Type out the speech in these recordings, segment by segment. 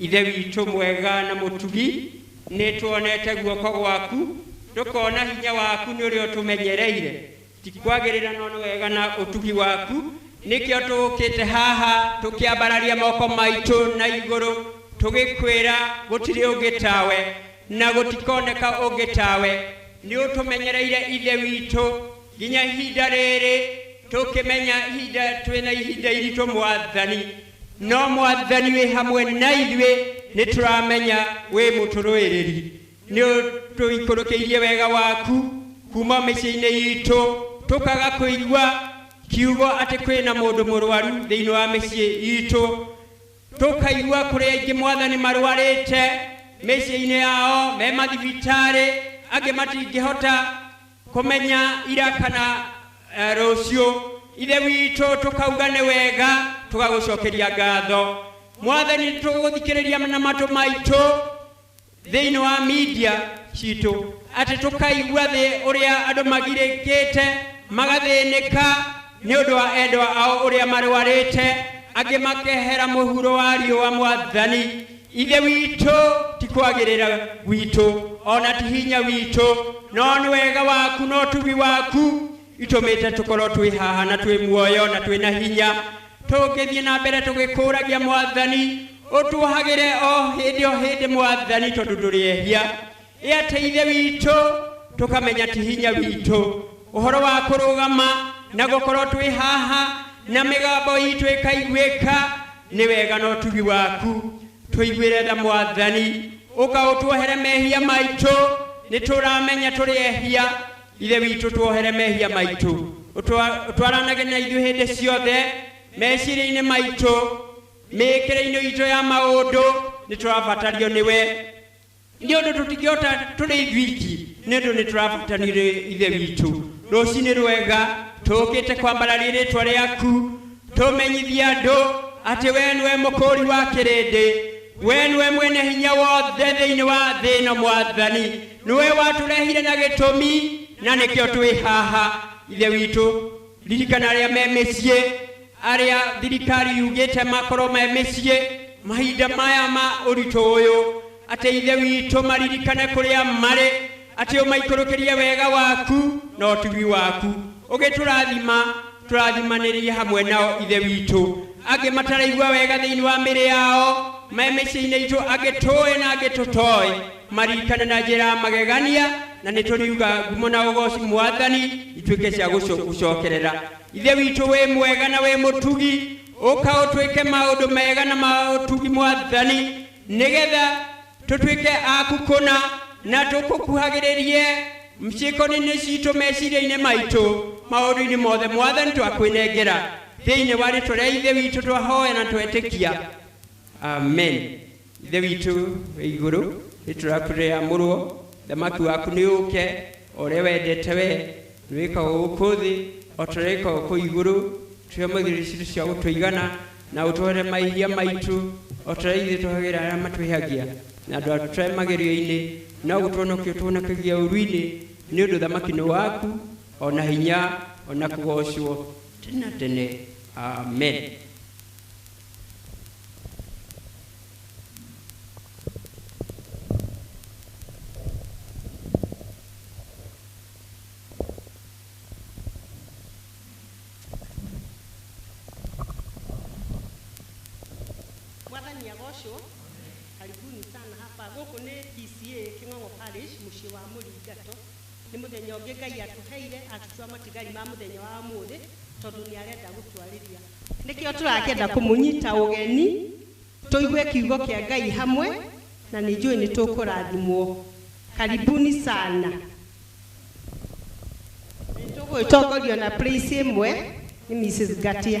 Ithe witũ mwega na mũtugi, nĩ tuonete guoko gwaku, tũkona hinya waku nĩ ũrĩa ũtũmenyereire. Ti kwagĩrĩra no nĩ wega na ũtugi waku, nĩkĩo tũũkĩte haha tũkĩambararia moko maitũ na igũrũ tũgĩkwĩra gũtirĩ ũngĩ tawe na gũtikoneka ũngĩ tawe. Nĩ ũtũmenyereire Ithe witũ nginya ihinda rĩrĩ, tũkĩmenya ihinda twĩna ihinda iritũ Mwathani. No Mwathani wĩ hamwe na ithuĩ, nĩ tũramenya wĩ mũtũrũĩrĩri. Nĩ ũtũikũrũkĩirie wega waku kuuma o mĩciĩ-inĩ itũ, tũkaga kũigua kiugo atĩ kwĩ na mũndũ mũrwaru thĩinĩ wa mĩciĩ itũ. Tũkaigua kũrĩ aingĩ Mwathani marwarĩte mĩciĩ-inĩ yao, me mathibitarĩ, angĩ matingĩhota kũmenya ira kana eh, rũciũ ithe witũ tũkauga nĩ wega tũgagũcokeria ngatho mwathani tũgũthikĩrĩria na matũ maitũ thĩinĩ wa media citũ atĩ tũkaigua thĩ ũrĩa andũ magirĩkĩte magathĩnĩka nĩ ũndũ wa endwa ao ũrĩa marwarĩte angĩ makehera mũhuro wa riũa mwathani ithe witũ ti kwagĩrĩra gwitũ o na ti hinya witũ no nĩ wega waku na ũtugi waku itũmĩte tũkorwo twĩ haha na twĩ muoyo na twĩ na hinya tũngĩthiĩ na mbere tũgĩkũragia mwathani ũtuohagĩre o hĩndĩ o hĩndĩ mwathani tondũ ndũrĩehia ĩ atĩ ithe witũ tũkamenya ti hinya witũ ũhoro wa kũrũgama na gũkorwo twĩ haha na mĩgambo itũ ĩkaiguĩka nĩ wega na ũtugi waku tũiguĩre tha mwathani ũkaũtuohere mehia maitũ nĩ tũramenya tũrĩ ehia ithe witũ tuohere mehia maitũ Ũtwa- ũtwaranage na ithuĩ hĩndĩ ciothe meciria-inĩ maitũ mĩĩkĩre-inĩ itũ ya maũndũ nĩ tũrabatario nĩwe nĩ ũndũ tũtingĩhota tũrĩ ithuiki nĩ ũndũ nĩ tũrabatanio nĩ ithe witũ rũcinĩ rwega tũũkĩte kwambararia rĩtwa rĩaku tũmenyithie andũ atĩ wee nĩwe mũkũũri wa kĩrĩndĩ wee nĩwe mwene hinya wothe thĩinĩ wa thĩ ĩno mwathani nĩwe watũrehire na gĩtũmi na nĩkĩo twĩ haha ithe witũ ririkana arĩa me mĩciĩ arĩa thirikari yugĩte makorwo me mĩciĩ mahinda maya ma ũritũ ũyũ atĩ ithe witũ maririkane kũrĩa marĩ atĩ ũmaikũrũkĩrie wega waku na ũtugi waku ũgĩtũrathima tũrathimanĩrie hamwe nao ithe witũ angĩ mataraigua wega thĩinĩ wa mĩrĩ yao me mĩciĩ-inĩ itũ angĩ tũĩ na angĩ tũtoĩ marikane na njĩra ya magegania na nĩ tũriuga ngumo na ũgoci mwathani ituĩke cia gũco- gũcokerera ithe witũ wĩ mwega na wĩ mũtugi ũka ũtuĩke maũndũ mega na maũtugi mwathani nĩgetha tũtuĩke aku kũna na tũkũkuhagĩrĩrie ciĩko-inĩ citũ meciria-inĩ maitũ maũndũ-inĩ mothe mwathani twakwĩnengera thĩinĩ wa rĩtwa rĩa ithe witũ twahoya na twetĩkia amen Ithe witũ wĩ igũrũ, nĩ tũrakurĩra mũrwo, thamaki waku nĩ ũke, o ũrĩa wendete we, nĩ wĩkaga gũkũ thĩ, o ta ũrĩa wĩkaga gũkũ igũrũ, tũhe mũthithũ citũ cia gũtũigana, na ũtũhere mahĩhia maitũ, o ta ũrĩa ithuĩ tũhagĩra arĩa matwĩhagia, na ndũtũtware magerio-inĩ, no ũtũhonokie ũtũhonokagie ũũru-inĩ, nĩ ũndũ ũthamaki nĩ waku, o na hinya, o na kũgocwo, tene na tene. Amen. mwathani agocwo karibuni sana hapa gũkũ nĩ pca kĩng'ong'o parish mũciĩ wa mũringato nĩ mũthenya ũngĩ ngai atũheire atũtua matigari ma mũthenya wa mũthĩ tondũ nĩ arenda gũtwarĩria Nĩkĩo tũrakĩenda kũmũnyita ũgeni, tũigue kiugo kĩa Ngai hamwe, na nĩ njũĩ nĩ tũkũrathimwo. Karibuni sana. Nĩ tũgũgĩtongorio na praise ĩmwe nĩ Mrs. Ngatia.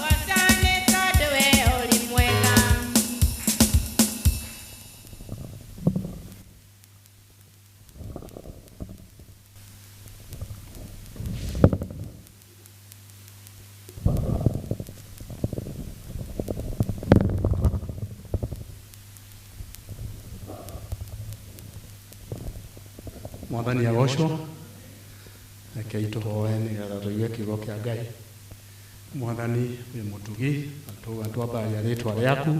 mwathani agocwo rekei tũhoe nĩgetha tũigue kiugo kĩa ngai Mwathani wĩ mũtugi, na twauga nĩtwambararia rĩĩtwa rĩaku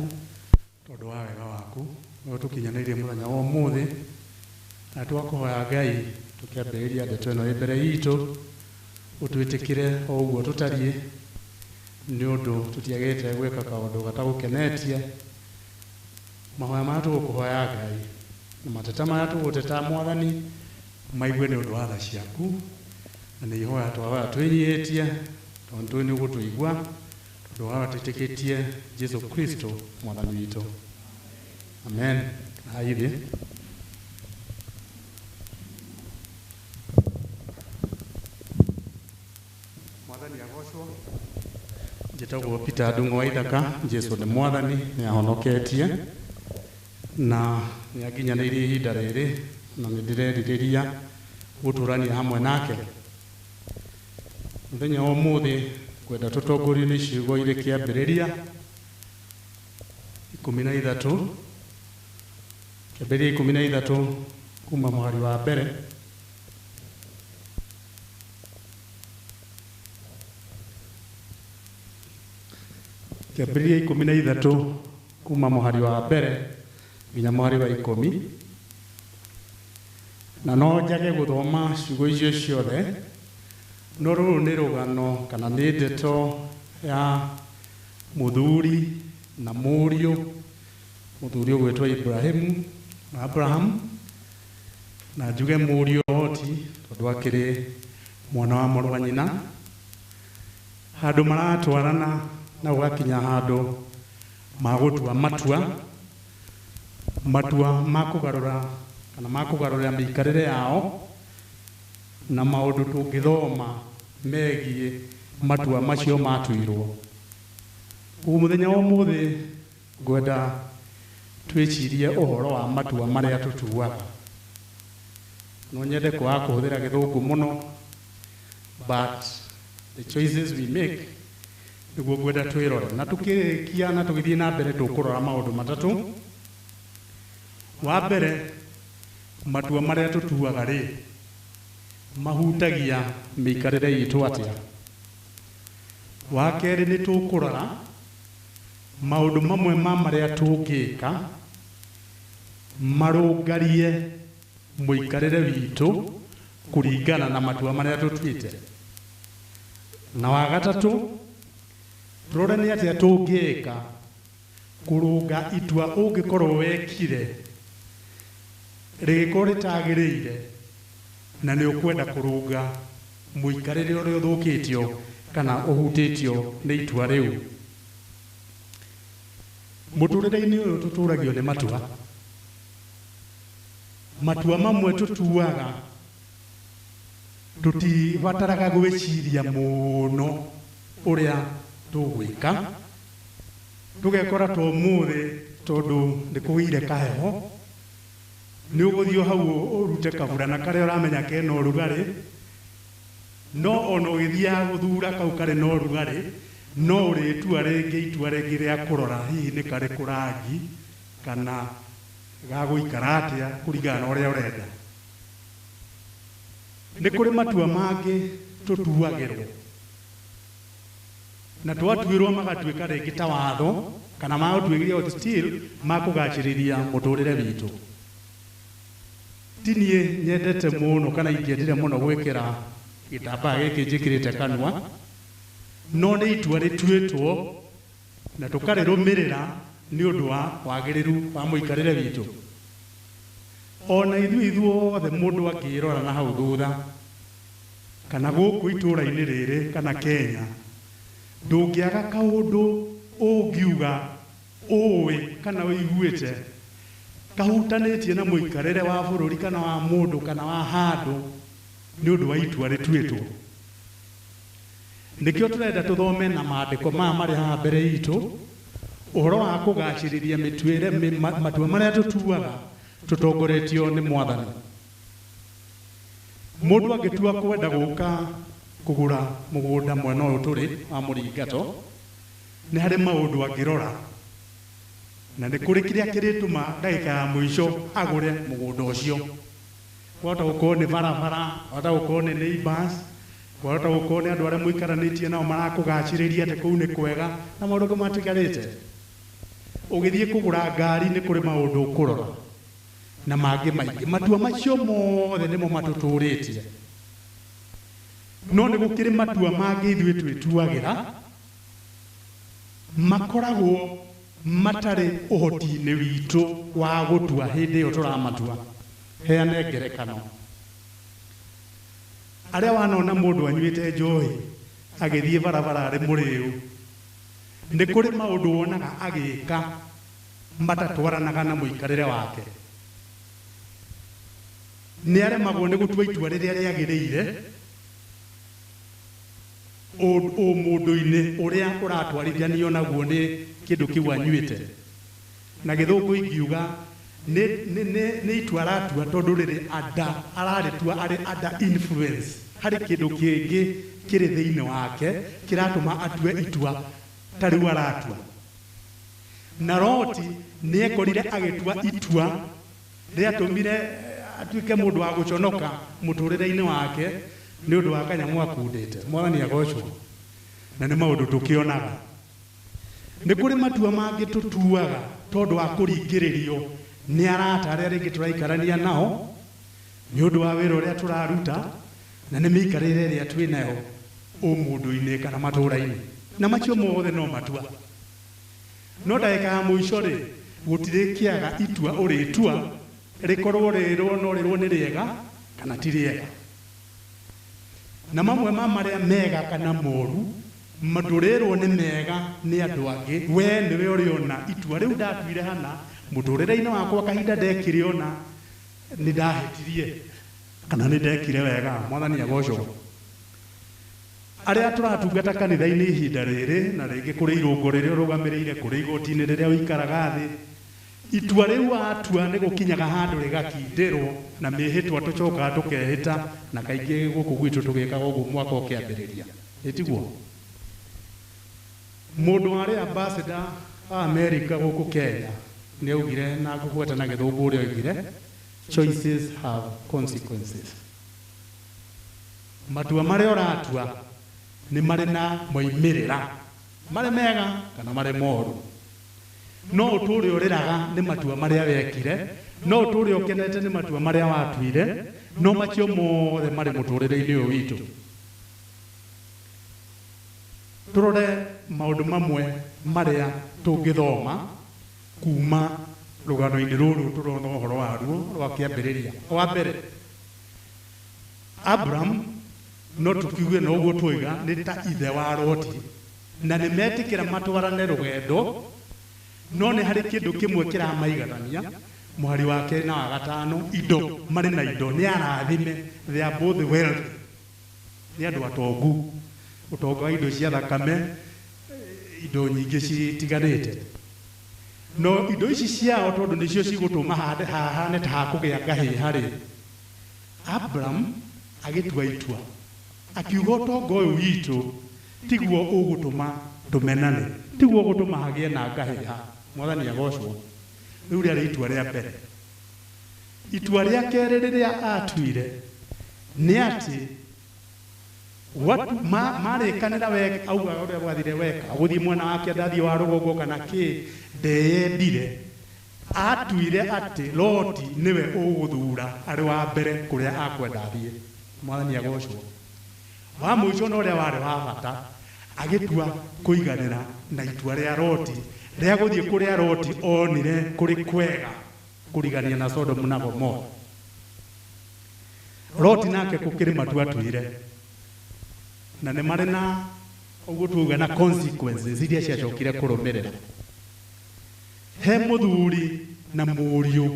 tondũ wa wega waku ũrĩa ũtũkinyanĩirie mũthenya wa ũmũthĩ. Na twakũhoya Ngai, tũkĩambĩrĩria ndeto ĩno ĩ mbere iitũ, ũtwĩtĩkĩre o ũguo tũtariĩ, nĩ ũndũ tũtiagĩrĩte gwĩka kaũndũ gatagũkenetie. Mahoya marĩa tũgũkũhoya Ngai, na mateta marĩa tũgũteta Mwathani, Maigue nĩ ũndũ wa tha ciaku, na nĩ ihoya twahoya twĩnyihĩtie, tondũ tũĩ nĩ ũgũtũigua, tondũ wa twĩtĩkĩtie Jesu Kristo Mwathani witũ. Amen. Hai thĩ. Mwathani agocwo. Njĩtagwo Peter Ndung'u wa Ithaka. Jesu nĩ Mwathani, nĩ ahonoketie. Na nĩ anginyanĩirie ihinda rĩrĩ, na nĩ ndĩrerirĩria gũtũũrania hamwe nake. Mũthenya wa ũmũthĩ ngwenda tũtongorio nĩ ciugo irĩ Kĩambĩrĩria ikũmi na ithatũ, Kĩambĩrĩria ikũmi na ithatũ kuuma mũhari wa mbere, Kĩambĩrĩria ikũmi na ithatũ. Kuuma mũhari wa mbere nginya mũhari wa ikũmi, na no njage gũthoma ciugo icio ciothe, no rũrũ nĩ rũgano kana nĩ ndeto ya mũthuri na mũriũ, mũthuri ũgwĩtwo Ibrahimu, Abraham, na njuge mũriũ Loti tondũ akĩrĩ mwana wa mũrũ wa nyina. Handũ maratwarana na gũgakinya handũ magũtua matua, matua ma kũgarũra kana ma kũgarũrĩra mĩikarĩre yao na maũndũ tũngĩthoma megiĩ matua macio matuirwo. Ũguo mũthenya wa ũmũthĩ ngwenda twĩcirie ũhoro wa matua marĩa tũtuaga. No nyende kwaga kũhũthĩra gĩthũngũ mũno. but the choices we make niguo ngwenda twirore na tukirikia na tugithie na mbere tukurora maundu matatu wa mbere matua maria tutuaga ri mahutagia miikarire itu atia wa keri ni tukurora maundu mamwe ma maria tungika marungarie mũikarĩre witũ kũringana na matua marĩa tũtuĩte. Na wa gatatũ, tũrore nĩ atĩa tũngĩka kũrũnga itua ũngĩkorwo wekire rĩgĩkorwo rĩtagĩrĩire na nĩ ũkwenda kũrũnga mũikarĩre ũrĩa ũthũkĩtio kana ũhutĩtio nĩ itua rĩu. Mũtũrĩre-inĩ ũyũ tũtũragio nĩ matua. Matua mamwe tũtuaga tũtibataraga gwĩciria mũno ũrĩa tũgwĩka, tũgekora ta ũmũthĩ tondũ nĩ kũgĩire kaheho, nĩ ũgũthiĩ o hau ũrute kaburana karĩa ũramenya kena ũrugarĩ, no o na ũgĩthiaga gũthura kau karĩ na ũrugarĩ, no ũrĩtua rĩngĩ itua rĩngĩ rĩa kũrora hihi nĩ karĩkũ rangi. Kana gagũikara atĩa kũringana na ũrĩa ũrenda. Nĩ kũrĩ matua mangĩ tũtuagĩrwo na twatuĩrwo magatuĩka rĩngĩ ta watho kana ma ũtuĩria ũyũ still ma kũgacĩrithia mũtũrĩre witũ. Ti niĩ nyendete mũno kana ingĩendire mũno gwĩkĩra gĩtambaya gĩkĩ njĩkĩrĩte kanua, no nĩ itua rĩtuĩtwo na tũkarĩrũmĩrĩra nĩ ũndũ wa wagĩrĩru wa mũikarĩre witũ. O na ithuĩ ithuothe mũndũ angĩĩrora na hau thutha, kana gũkũ itũũra-inĩ rĩrĩ kana Kenya, ndũngĩaga kaũndũ ũngiuga, ũũĩ kana ũiguĩte kahutanĩtie na mũikarĩre wa bũrũri kana wa mũndũ kana wa handũ nĩ ũndũ wa itua rĩtuĩtwo. Nĩkĩo tũrenda tũthome na maandĩko maya marĩ haha mbere itũ ũhoro wa kũgacĩrithia mĩtuĩre, matua marĩa tũtuaga tũtongoretio nĩ Mwathani. Mũndũ angĩtua kwenda gũka kũgũra mũgũnda mwena ũyũ tũrĩ wa Mũringato, nĩ harĩ maũndũ angĩrora, na nĩ kũrĩ kĩrĩa kĩrĩtũma ndagĩka ya mũico agũre mũgũnda ũcio. kwahota gũkorwo nĩ barabara, kwahota gũkorwo nĩ neighbors, kwahota gũkorwo nĩ andũ arĩa mũikaranĩtie nao marakũgacĩrĩria atĩ kũu nĩ kwega na maũndũ angĩ matigarĩte. Ũgĩthiĩ kũgũra ngari nĩ kũrĩ maũndũ ũkũrora na mangĩ maingĩ. Matua macio mothe nĩmo matũtũrĩtie. No nĩ gũkĩrĩ matua mangĩ ithuĩ twĩtuagĩra makoragwo matarĩ ũhoti-inĩ witũ wa gũtua hĩndĩ ĩyo tũramatua. Heane ngerekano. Arĩa wanona mũndũ anyuĩte njohi agĩthiĩ barabara arĩ mũrĩu, nĩ kũrĩ maũndũ wonaga agĩka matatwaranaga na mũikarĩre wake. Nĩ aremagwo nĩ gũtua itua rĩrĩa rĩagĩrĩire. ũmũndũ-inĩ ũrĩa ũratwarithanio naguo nĩ kĩndũ kĩu anyuĩte. Na Gĩthũngũ ingiuga nĩ, nĩ, nĩ, nĩ itua aratua tondũ rĩrĩ under, ararĩtua arĩ under influence. Harĩ kĩndũ kĩngĩ kĩrĩ thĩinĩ wake kĩratũma atue itua ta rĩu aratua. Na Loti nĩ ekorire agĩtua itua. Nĩ aatũmire atuĩke mũndũ wa gũconoka mũtũũrĩre-inĩ wake nĩ ũndũ wa kanyamũ akundĩte. Mwathani agoocwo! Na nĩ maũndũ tũkĩonaga. Nĩ kũrĩ matua mangĩ tũtuaga tondũ wa kũringĩrĩrio nĩ arata arĩa rĩngĩ tũraikarania nao, nĩ ũndũ wa wĩra ũrĩa tũraruta, na nĩ mĩikarĩre ĩrĩa twĩ nayo ũmũndũ-inĩ kana matũũra-inĩ. Na macio mothe no matua. No ndagĩka ya mũico-rĩ, gũtirĩkĩaga itua ũrĩtua, rĩkorwo rĩrwo no rĩrwo nĩ rĩega kana ti rĩega. Na mamwe ma marĩa mega kana moru ndũrĩrwo nĩ mega nĩ andũ angĩ, wee nĩwe ũrĩona itua rĩu ndatuire hana, mũtũrĩre-inĩ wakwa kahinda ndekĩrĩona nĩndahĩtirie kana nĩndekire wega. Mwathani agocwo. Arĩa tũratungata kanitha-inĩ ihinda rĩrĩ na rĩngĩ kũrĩ irũngo rĩrĩa ũrũgamĩrĩire, kũrĩ igoti-inĩ rĩrĩa ũikaraga thĩ, itua rĩu watua nĩ gũkinyaga handũ rĩgakindĩrũo na mĩĩhĩtwa tũcokaga tũkehĩta na kaingĩ gũkũ gwitũ tũgĩkaga ũguo mwaka ũkĩambĩrĩria. Ĩ tiguo? Mũndũ warĩ ambassador wa Amerika gũkũ Kenya nĩ aaugire, na ngũgweta na Gĩthũngũ ũrĩa oigire, Choices have consequences. Matua marĩa ũratua nĩ marĩ na moimĩrĩra marĩ mega kana marĩ moru. No ũtũũre ũrĩraga nĩ matua marĩa wekire, no ũtũũre ũkenete nĩ matua marĩa watuire, no macio mothe marĩ mũtũũrĩre-inĩ ũyũ witũ. Tũrore maũndũ mamwe marĩa tũngĩthoma kuuma rũgano-inĩ rũrũ tũrona ũhoro waruo rwa kĩambĩrĩria. Wa mbere. Abram, no tũkiuge na ũguo twoiga nĩ ta ithe wa Loti, na nĩ metĩkĩra matwarane rũgendo, no nĩ harĩ kĩndũ kĩmwe kĩramaiganania, mũhari wa kerĩ na wa gatano, indo, marĩ na indo, nĩ arathime, they are both wealthy, nĩ andũ atongu, ũtonga wa indo cia thakame, indo nyingĩ citiganĩte. No indo ici ciao tondũ nĩcio cigũtũma hande hahane ta ha kũgĩa ngahĩha-rĩ, Abram agĩtua itua, akiuga, Ũtonga ũyũ witũ tiguo ũgũtũma tũmenane, tiguo ũgũtũma hagĩe na ngahĩha. Mwathani agoocwo! Rĩu rĩarĩ itua rĩa mbere. Itua rĩa kerĩ rĩrĩa aatuire nĩ atĩ, What? Ma, marĩkanĩra we augaga ũrĩa gwathire weka gũthiĩ mwena wa kĩanda athiĩ wa rũgongo kana kĩ ndeyendire atuire atĩ loti nĩwe ũgũthura arĩ wa mbere kũrĩa akwenda athiĩ mwathani agocwo wa mũico na ũrĩa warĩ wa bata agĩtua kũiganĩra na itua rĩa loti rĩa gũthiĩ kũrĩa loti onire kũrĩ kwega kũrigania na sodomu na gomora Loti nake kũkĩrĩ matu atwĩre, na nĩ marĩ na ũguo twauga na consequences iria ciacokire kũrũmĩrĩra. He mũthuri na mũriũ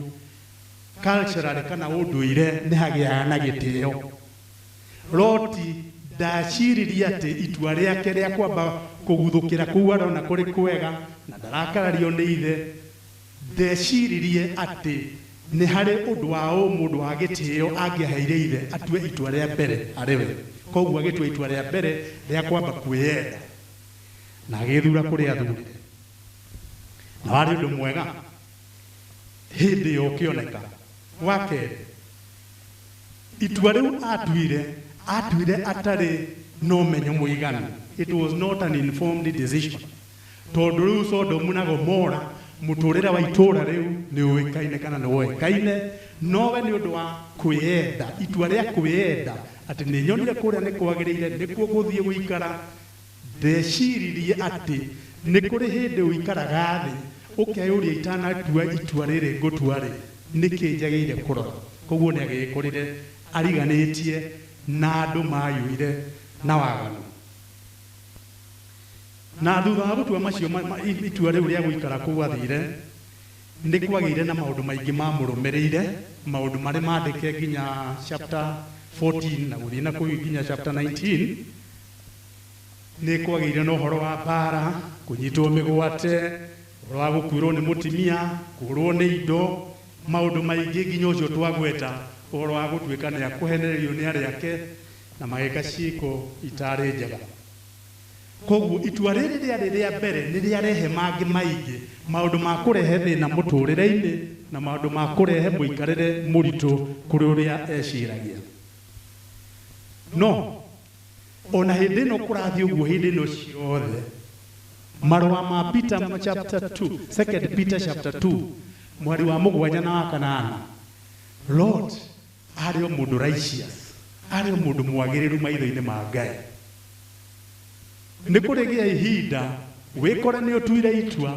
culturally kana ũndũire nĩ hagĩaga na gĩtĩo. Loti ndaciririe atĩ itua rĩake rĩa kwamba kũguthũkĩra kũu arona kũrĩ kwega na ndarakarario nĩ ithe, Ndeciririe atĩ nĩ harĩ ũndũ wa ũmũndũ wa gĩtĩo angĩaheire ithe atue itua rĩa mbere harĩ we, kwoguo agĩtua itua rĩa mbere rĩa kwamba kwĩyenda na agĩĩthuura kũrĩa aathuurire. Na warĩ ũndũ mwega hĩndĩ ĩyo ũkĩoneka. Wa kerĩ, itua rĩu aatuire, aatuire atarĩ na ũmenyo mũiganu, it was not an informed decision. Tondũ rĩu Sodomu na Gomora, mũtũũrĩre wa itũũra rĩu nĩũĩkaine kana nĩwoĩkaine, nowe nĩ ũndũ wa kwĩyenda, itua rĩa kwĩyenda, atĩ nĩnyonire kũrĩa nĩkwagĩrĩire nĩkuo ngũthiĩ gũikara, ndeciiririe atĩ nĩ kũrĩ hĩndĩ ũikaraga thĩ ũkeyũria itanatua itua rĩrĩ ngũtua-rĩ, nĩkĩ njagĩire kũrora? Kwoguo nĩagĩĩkorire ariganĩtie na andũ maayũire na waganu. Na thutha wa gũtua macio ma, ma, i- itua rĩu rĩa gũikara kũu athiire, nĩ kwagĩire na maũndũ maingĩ maamũrũmĩrĩire, maũndũ marĩ maandĩke nginya chapter 14 na gũthiĩ na kũu nginya chapter 19 nĩ kwagĩire na ũhoro wa mbaara kũnyitwo mĩgwate ũhoro wa gũkuĩrwo nĩ mũtimia kũrwo nĩ indo maũndũ maingĩ nginya ũcio twagweta ũhoro wa gũtuĩka nĩ akũhenererio nĩ arĩa ake na magĩka ciĩko itaarĩ njega. Kwoguo itua rĩrĩ rĩarĩ rĩa mbere nĩ rĩarehe mangĩ maingĩ, maũndũ ma kũrehe thĩna mũtũũrĩre-inĩ na maũndũ ma kũrehe mũikarĩre mũritũ kũrĩ ũrĩa eciragia. No, o na hĩndĩ ĩno kũrathiĩ ũguo hĩndĩ ĩno ciothe, marũa ma Peter chapter two, Second Peter chapter two, mũhari wa mũgwanja na wa kanana, Lot, Aarĩ o mũndũ righteous. Aarĩ o mũndũ mwagĩrĩru maitho-inĩ ma Ngai. Nĩ kũrĩgĩa ihinda wĩkore nĩ ũtuire itua,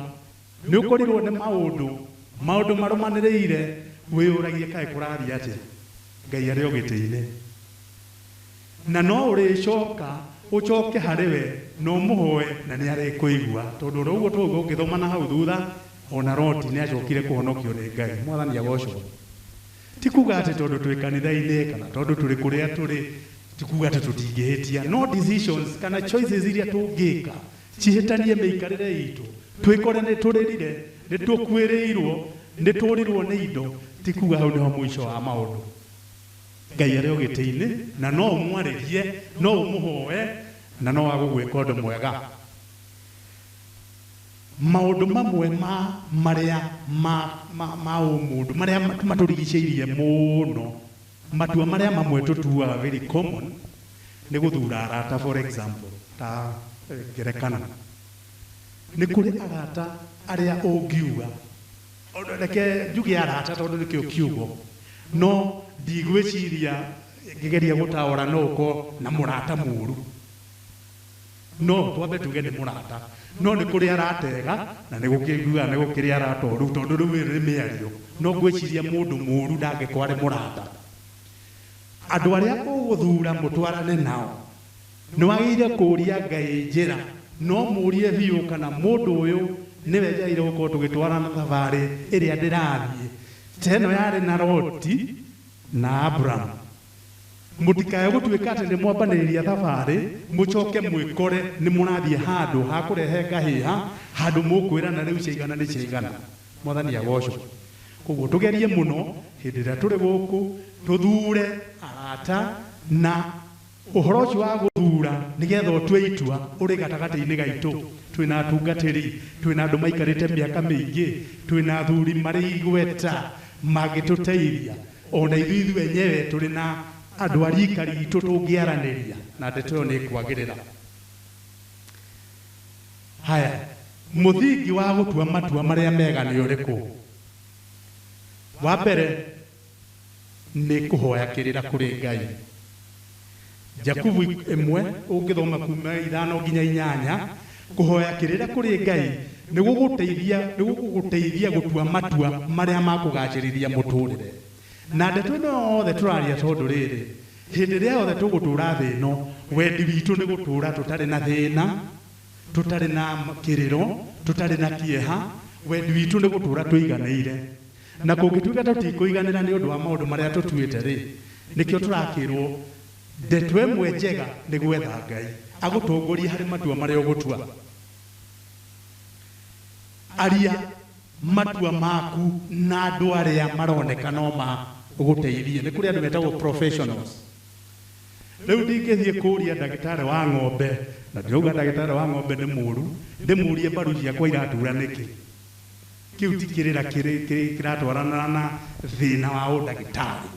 nĩ ũkorirũo nĩ maũndũ, maũndũ marũmanĩrĩire, wĩyũragie kaĩ kũrathiĩ atĩa Ngai arĩ o gĩtĩ-inĩ. Na no ũrĩcoka ũcoke harĩ we na ũmũhoe na nĩ arĩkũigua. Tondũ o ro ũguo twauga ũngĩthoma na hau thutha, o na Loti nĩ acokire kũhonokio nĩ Ngai. Mwathani agocwo. Ti kuuga atĩ tondũ twĩ kanitha-inĩ kana tondũ tũrĩ kũrĩa tũrĩ, ti kuuga atĩ tũtingĩhĩtia. No decisions kana choices iria tũngĩka cihĩtanie mĩikarĩre itũ, twĩkore nĩ tũrĩrire, nĩ tũkuĩrĩirwo, nĩ tũũrirwo nĩ indo, ti kuuga hau nĩho mũico wa maũndũ. Ngai arĩ o gĩtĩ-inĩ, na no ũmwarĩrie, no ũmũhoe, na no agũgwĩka ũndũ mwega. Maũndũ mamwe ma marĩa ma ma ma ũmũndũ marĩa matũrigicĩirie mũno, matua marĩa mamwe tũtuaga very common nĩ gũthura arata for example ta ngerekano, nĩ kũrĩ arata arĩa ũngiuga, reke njuge arata tondũ nĩkĩo kiugo, no ndigwĩciria ngĩgeria gũtaũra no ũkorwo na mũrata mũru. No twambe tuge nĩ mũrata. No nĩ kũrĩa aratega na nĩ gũkĩiguaga nĩ gũkĩrĩa aratoa rĩu tondũ rĩu ĩrĩ nĩ mĩario. No ngwĩciria mũndũ mũũru ndangĩkorwo arĩ mũrata. Andũ arĩa ũgũthura mũtwarane nao, nĩ wagĩrĩire kũũria Ngai njĩra na ũmũũrie biũ kana mũndũ ũyũ nĩwe njagĩrĩire gũkorwo tũgĩtwarana thabarĩ ĩrĩa ndĩrathiĩ. Ta ĩno yarĩ na Loti na Abramu. Mũtikae gũtuĩka atĩ nĩ mwambanĩrĩria thabarĩ mũcoke mwĩkore nĩ mũrathiĩ handũ ha kũrehe ngahĩha, handũ mũkwĩrana rĩu ciaigana nĩ ciaigana. Mwathani agocwo! Kwoguo tũgerie mũno hĩndĩ ĩrĩa tũrĩ gũkũ tũthuure arata, na ũhoro ũcio wa gũthuura nĩ getha ũtue itua ũrĩ gatagatĩ-inĩ gaitũ. Twĩ na atungatĩri, twĩ na andũ maikarĩte mĩaka mĩingĩ, twĩ na athuri marĩ igweta mangĩtũteithia. O na ithuĩ ithuĩ enyewe tũrĩ na andũ a riika riitũ tũngĩaranĩria na ndeto ĩyo nĩ ĩkwagĩrĩra. Haya, mũthingi wa gũtua matua marĩa mega nĩ ũrĩkũ? Wa mbere, nĩ kũhoya kĩrĩra kũrĩ Ngai. Jakubu ĩmwe ũngĩthoma kuuma ithano nginya inyanya, kũhoya kĩrĩra kũrĩ Ngai nĩ gũgũteithia nĩ gũgũgũteithia gũtua matua marĩa ma kũgacĩrithia mũtũrĩre. Na ndeto ĩno yothe tũraria tondũ rĩrĩ, hĩndĩ ĩrĩa yothe tũgũtũra thĩ ĩno, wendi witũ nĩ gũtũra tũtarĩ na thĩna, tũtarĩ na kĩrĩro, tũtarĩ na kĩeha, wendi witũ nĩ gũtũra tũiganĩire. Na kũngĩtuĩka tũtikũiganĩra nĩ ũndũ wa maũndũ marĩa tũtuĩte-rĩ, nĩkĩo tũrakĩrũo, Ndeto ĩmwe njega nĩ gwetha Ngai agũtongorie harĩ matua marĩa ũgũtua. Aria matua maku na andũ arĩa maroneka no magũteithie. Nĩ kũrĩ andũ metagwo professionals. Rĩu ndingĩthiĩ kũũria ndagĩtarĩ wa ng'ombe, na ndirauga ndagĩtarĩ wa ng'ombe nĩ mũũru, ndĩmũũrie mbaru ciakwa iratuura nĩkĩ. Kĩu ti kĩrĩra kĩratwarana na thĩna wa ũndagĩtarĩ.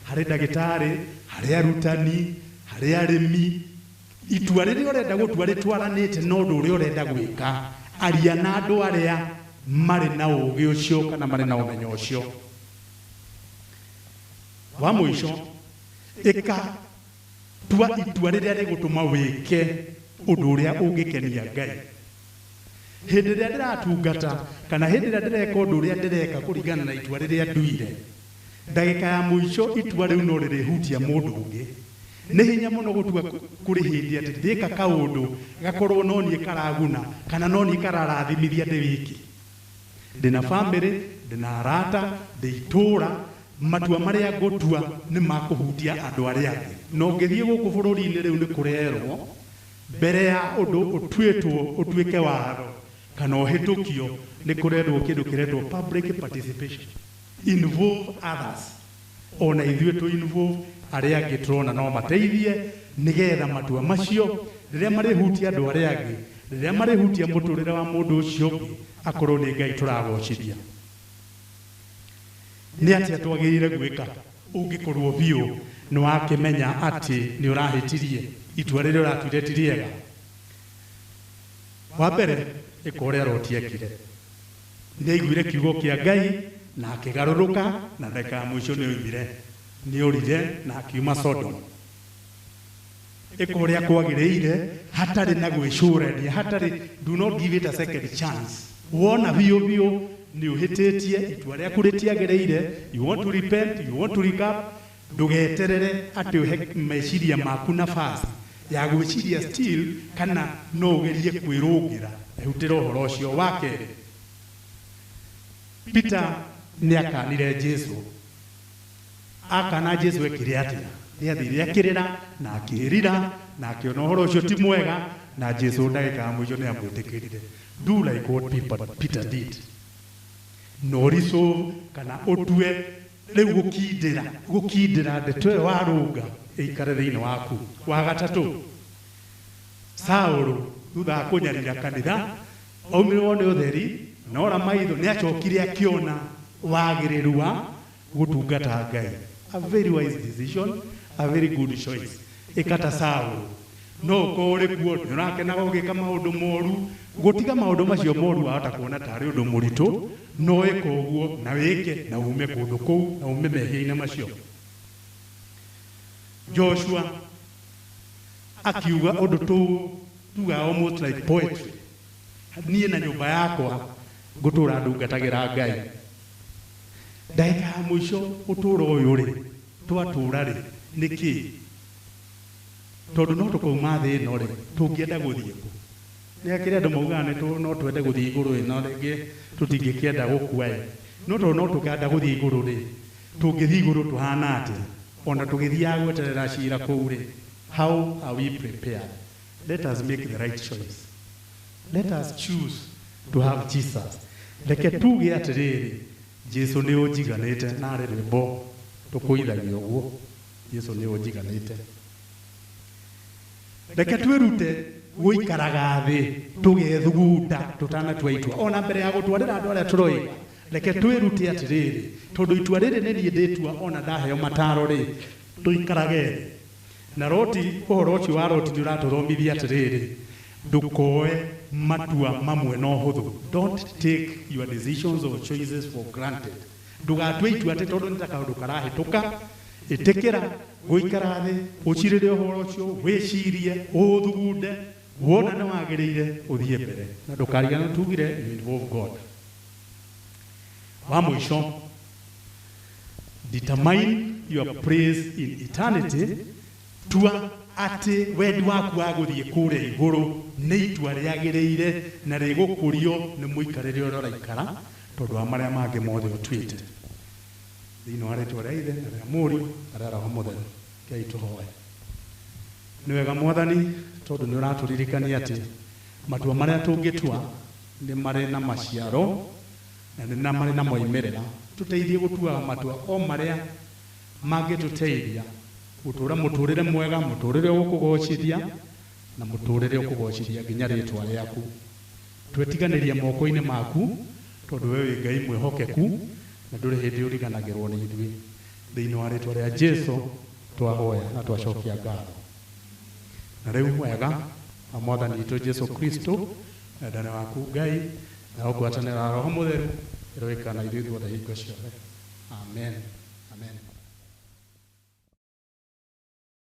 Harĩ ndagĩtarĩ, harĩ arutani, harĩ arĩmi, itua rĩrĩa ũrenda gũtua rĩtwaranĩte na ũndũ ũrĩa ũrenda gwĩka. Aria na andũ arĩa marĩ na ũũgĩ ũcio kana marĩ na ũmenyo ũcio. Wa mũico, ĩka, tua itua rĩrĩa rĩgũtũma wĩke ũndũ ũrĩa ũngĩkenia Ngai. Hĩndĩ ĩrĩa ndĩratungata kana hĩndĩ ĩrĩa ndĩreka ũndũ ũrĩa ndĩreka kũringana na itua rĩrĩa nduire, ndagĩka ya mũico itua rĩu no rĩrĩhutia mũndũ ũngĩ. Nĩ hinya mũno gũtua kũrĩ hĩndĩ atĩ ndĩka kaũndũ gakorũo no niĩ karaguna kana no niĩ kararathimithia ndĩ wiki. Ndĩ na famĩlĩ, ndĩ na arata, ndĩ itũũra, matua marĩa ngũtua nĩ ma kũhutia andũ arĩa angĩ. Na ũngĩthiĩ gũkũ bũrũri-inĩ rĩu nĩ kũrerũo Mbere ya ũndũ ũtuĩtwo ũtuĩke watho kana ũhĩtũkio, nĩ kũrendwo kĩndũ kĩretwo public participation, involve others, o na ithuĩ tũ involve arĩa angĩ tũrona no mateithie nĩ getha matua macio rĩrĩa marĩhutia andũ arĩa angĩ, rĩrĩa marĩhutia mũtũrĩre wa mũndũ ũcio ũngĩ, akorwo nĩ Ngai tũragoocithia. Nĩ atĩa twagĩrĩire gwĩka ũngĩkorũo biũ nĩ wakĩmenya atĩ nĩ ũrahĩtirie? Itua rĩrĩa ũratuire ti rĩega. Wa mbere, ĩka ũrĩa Loti eekire. Nĩ aiguire kiugo kĩa Ngai na akĩgarũrũka, na ndagĩka ya mũico nĩ oimire. Nĩ orire na akiuma Sodomu. ĩka ũrĩa kwagĩrĩire hatarĩ na gwĩcũrania hatarĩ do not give it a second chance wona biũ biũ nĩ ũhĩtĩtie itua rĩaku rĩtiagĩrĩire you want to repent you want to recap ndũgeterere atĩ ũhe meciria maku nafasi ya gwĩciria still kana no ũgerie kwĩrũngĩra ehutĩra ũhoro ũcio wa kerĩ peter nĩ akanire jesu Akana Jesu ekire atia? Nĩathire akĩrĩra na akĩĩrira na akĩona ũhoro ũcio ti mwega na Jesu ndagĩka ya mũico nĩamwĩtĩkĩrire. Do like what Peter, Peter did. No resolve kana ũtue rĩu gũkindĩra gũkindĩra ndeto ĩyo warũnga ĩikare thĩinĩ waku. Wa gatatũ, Saũlũ thutha wa kũnyarira kanitha Oimirwo nĩ ũtheri, na ora maitho, nĩ acokire akĩona wagĩrĩru wa gũtungata Ngai. A very wise decision, a very good choice. Ĩka ta Saũlũ. No ũkorũo ũrĩ kuo, nĩ ũrakenaga ũgĩka maũndũ moru. Gũtiga maũndũ macio moru wahota kuona ta arĩ ũndũ mũritũ, no ĩka ũguo, na wĩke, na uume kũndũ kũu, na uume mehia-inĩ macio. Joshua. akiuga ũndũ tũ tuga almost like poetry niĩ na nyũmba yakwa ngũtũra ndungatagĩra ngai ndagĩka ya mũico ũtũra ũyũ rĩ twatũra rĩ nĩ kĩ tondũ no tũkauma thĩ ĩno rĩ tũngĩenda gũthiĩ kũ nĩ akĩrĩ andũ maugaga nĩ tũ- no twende gũthiĩ igũrũ ĩno rĩngĩ tũtingĩkĩenda gũkua ĩ no tondũ no tũkenda gũthiĩ igũrũ rĩ tũngĩthiĩ igũrũ tũhana atĩa O na tũgĩthiaga gweterera cira kũu-rĩ, how are we prepared? Let us make the right choice. Let us choose to have Jesus. Reke tuuge atĩrĩrĩ, Jesu nĩ ũnjiganĩte. Narĩ rwĩmbo tũkũithagia ũguo, Jesu nĩ ũnjiganĩte. Reke twĩrute gũikaraga thĩ tũgethugunda tũtanatua itua, o na mbere ya gũtwarĩra andũ arĩa tũroiga. Reke twĩrute atĩrĩrĩ, tondũ itua rĩrĩ nĩ niĩ ndĩtua o na ndaheo mataaro-rĩ, tũikarage thĩ. Na Loti, ũhoro ũcio wa Loti nĩ ũratũthomithia atĩrĩrĩ, ndũkoe matua mamwe na ũhũthũ, don't take your decisions or choices for granted. Ndũgatue itua atĩ tondũ nĩ ta kaũndũ karahĩtũka. Ĩtĩkĩra gũikara thĩ, ũcirĩre ũhoro ũcio, wĩcirie, ũũthugunde, wona nĩ wagĩrĩire, ũthiĩ mbere. Na ndũkariganĩrũo tugire, you involve God. wa mũico determine your praise in eternity tua atĩ wendi waku wa gũthiĩ kũrĩa igũrũ nĩ itua rĩagĩrĩire na rĩgũkũrio nĩ mũikarĩre ũrĩa ũraikara tondũ wa marĩa mangĩ mothe ũtuĩte thĩinĩ wa rĩtwa rĩa ithe na rĩa mũriũ na rĩa roho mũtheru kei tũhoe nĩ wega mwathani tondũ nĩ ũratũririkania atĩ matua marĩa tũngĩtua Nĩ marĩ na maciaro na nĩ na marĩ na moimĩrĩra. Tũteithie gũtuaga matua o marĩa mangĩtũteithia gũtũũra mũtũũrĩre mwega, mũtũũrĩre ũgũkũgoocithia, na mũtũũrĩre ũkũgoocithia nginya rĩĩtwa rĩaku. Twetiganĩria moko-inĩ maku, tondũ wee wĩ Ngai mwĩhokeku na ndũrĩ hĩndĩ ũriganagĩrũo nĩ ithuĩ. Thĩinĩ wa rĩĩtwa rĩa Jesu twahoya na twacokia ngatho. Na rĩu wega wa Mwathani witũ Jesu Kristo Wendani waku Ngai na ũgwatanĩro wa Roho Mũtheru ĩroikara na ithuĩ ithuothe hingo ciothe. Amen. Amen.